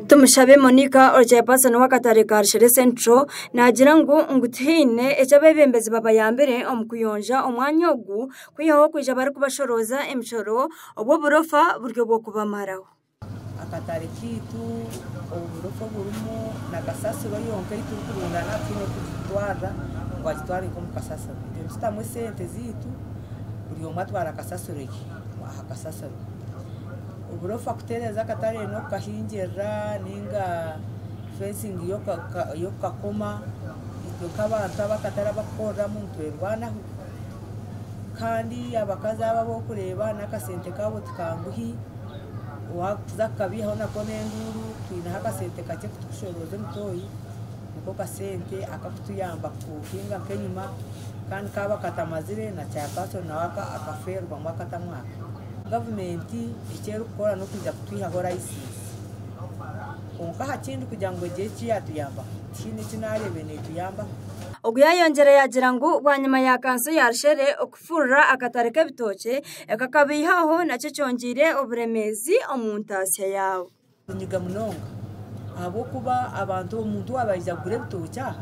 Tumushabe Monica ori chairperson w'akatare ka Rushere Central naagira ngu ngu tihaine eki abeebembezi babayambire omu kuyonja omwanya ogu kwihaho kwija barikubashorooza emishoro obu oburofa buri obw'okubamaraho. Akatare kaitu oburofa oburimu na kasasiro yonka ei turikurunda nabi twine kugitwarira ngu agitware nk'omu kasasiro. Nitutamu esente zaitu buri omwe atwara kasasiro ye aha kasasiro. Oburofa kutereeza akatare n'okukahingirira ninga fencing y'okukakoma itwe nk'abantu abu akatare abakukoreramu nitwerwanaho kandi abakazi abo abu orikureeba n'akasente kaabo ti kanguhi waakuza kukabaihaho nako n'enduuru twineho akasente kakye kutukushoorooza emitoyi niko kasente akakutuyamba kuhinga nk'enyima kandi kaaba katamazire na chairperson nawe akafeerwamu akatamu aka. gavumenti eki erikukora n'okwija kutwihaho layisinsi. Kwonka aha kindi kugira ngu egire eki yaatuyambaho, tihaine eki naareeba eri neetuyambaho. Ogu yaayongyire yaagira ngu bwanyima ya kanso ya Rushere okufurira akatare k'ebitookye, ekakabaihaho nakyo kyongyeire oburemeezi omu ntaatsya yaabo. Ninyiga munonga ahabw'okuba abantu omuntu waaba aija kugura ebitookye aha,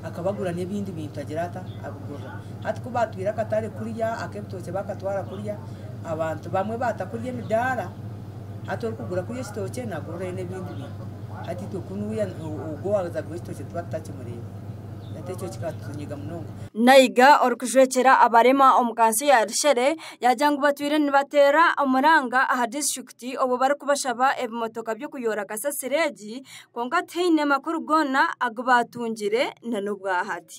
akaba agura n'ebindi bintu agira ata? Abigurira. Hati ku baatwire akatare kuriya ak'ebitookye baakatwara kuriya, abantu bamwe baata kuriya emidaara, hati orikugura kuriya ekitookye naagurirayo n'ebindi bintu. Hati itwe kunu wiiya ogwo owaaza kugura ekitookye tuba tutakimureeba. Hati ekyo kikatunyiga munonga. Naiga orikujwekyera abarema omu kanso ya Rishere yaagira ngu batwire nibateera omuranga aha District Ti obu barikubashaba ebimotoka by'okuyoora kasasiro egi, kwonka tihaine makuru goona agu baatungire na n'obwahati.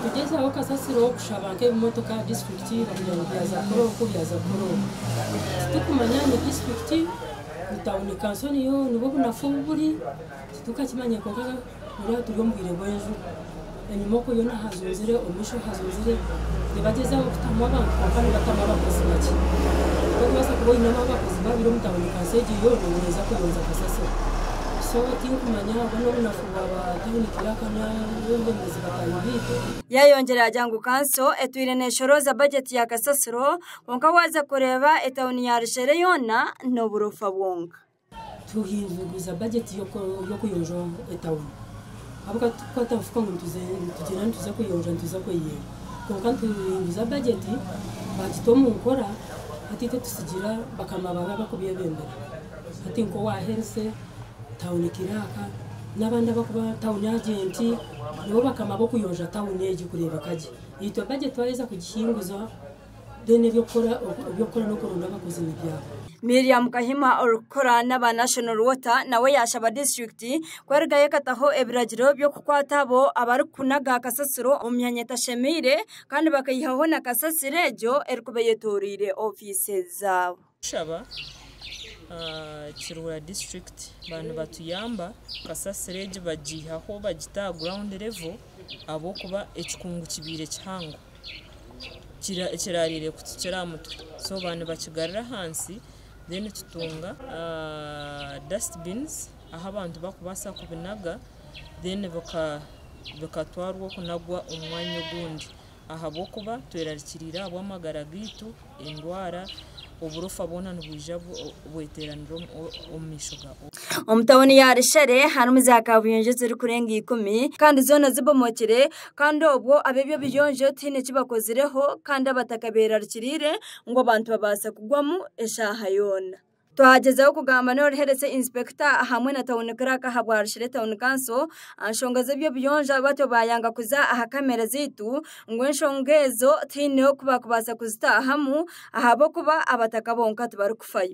Nitugyezaho kasasiro kushaba nk'ebimotoka aha disiturikiti kugira ngu byaza kukora oku byaza kukora oku. Titurikumanya ni disiturikiti, ni tauni kanso niyo nibo obunafu obu buri, titurikakimanya. Buriya turi omu bwire bw'enjura. Enyima okwo yoona hazunzire, omu maisho hazunzire. Nibagyezaho kutamu abantu kwonka nibatamu abakozi bakye. Orikubaasa kuba oinemu abakozi babiri omu tauni kansi egyo yoona ngu neeza kuyonja kasasiro. So tinkumanya obwo n'obunafu bwa ba tauni kiraka n'abeebembezi bataahi baitu. Yaayongyera yaagira ngu kanso etwire neeshorooza bajeti ya kasasiro kwonka waaza kureeba etauni ya Rushere yoona n'oburofa bwonka. Turikuhinduuguza bajeti y'okuyonja etauni ahabw'okuba titurikwata nfuka ngu nitugyenda nituza kuyonja nituza kweyiyeera kwonka nituhinduuza bajeti baagita omu nkora hati itwe tusigira bakama baawe abarikubeebembera hati nk'owa herise, tauni kiraaka n'abandi abarikuba tauni ajenti nibo bakama b'okuyonja tauni egi kureebeka gye. Itwe bajeti twaheza kugihinduza Then eby'okukora eby'okukora n'okuronda abakozebi byawe. Miriam Kahima orikukora n'aba National Water nawe yaashaba disiturikiti kwerugayo ekataho ebiragiro by'okukwata abo abarikunaga kasasiro omu myanya etashemeire kandi bakaihaho na kasasiro egyo erikuba eyetoroire ofiisi zaabo. Kushaba kiruura district ba nibatuyamba kasasiro egi bagihaho bagita aha ground level ahabw'okuba ekikungu kibaire kihango kirarire kutukira aha mutwe so ba nibakigarura ahansi then tutunga dust bins ahu abantu bakubaasa kubinaga then bikatwarwa okunagwa omu mwanya ogundi. ahabw'okuba twerarikiriire ahabw'amagara gaitu, endwara, oburofa bwona nibwija bweteranira omu maisho ga. Omu tauni ya Rushere harimu za kabuyonjo ezirikurenga ikumi kandi zoona zibomokire kandi obwo ab'eby'obuyonjo tihaine eki bakozireho kandi abataka beerarikiriire ngu abantu babaase kugwamu eshaaha yoona. Twagyezaho kugamba n'oruheretse inspector hamwe na town clerk ahabwarushire town council anshonga z'ebyobuyonja batyo bayanga kuza aha kamera zaitu ngu enshonga ezo tihaine oku bakubasa kuzitahamu ahabw'okuba abataka bonka tibarikufayo.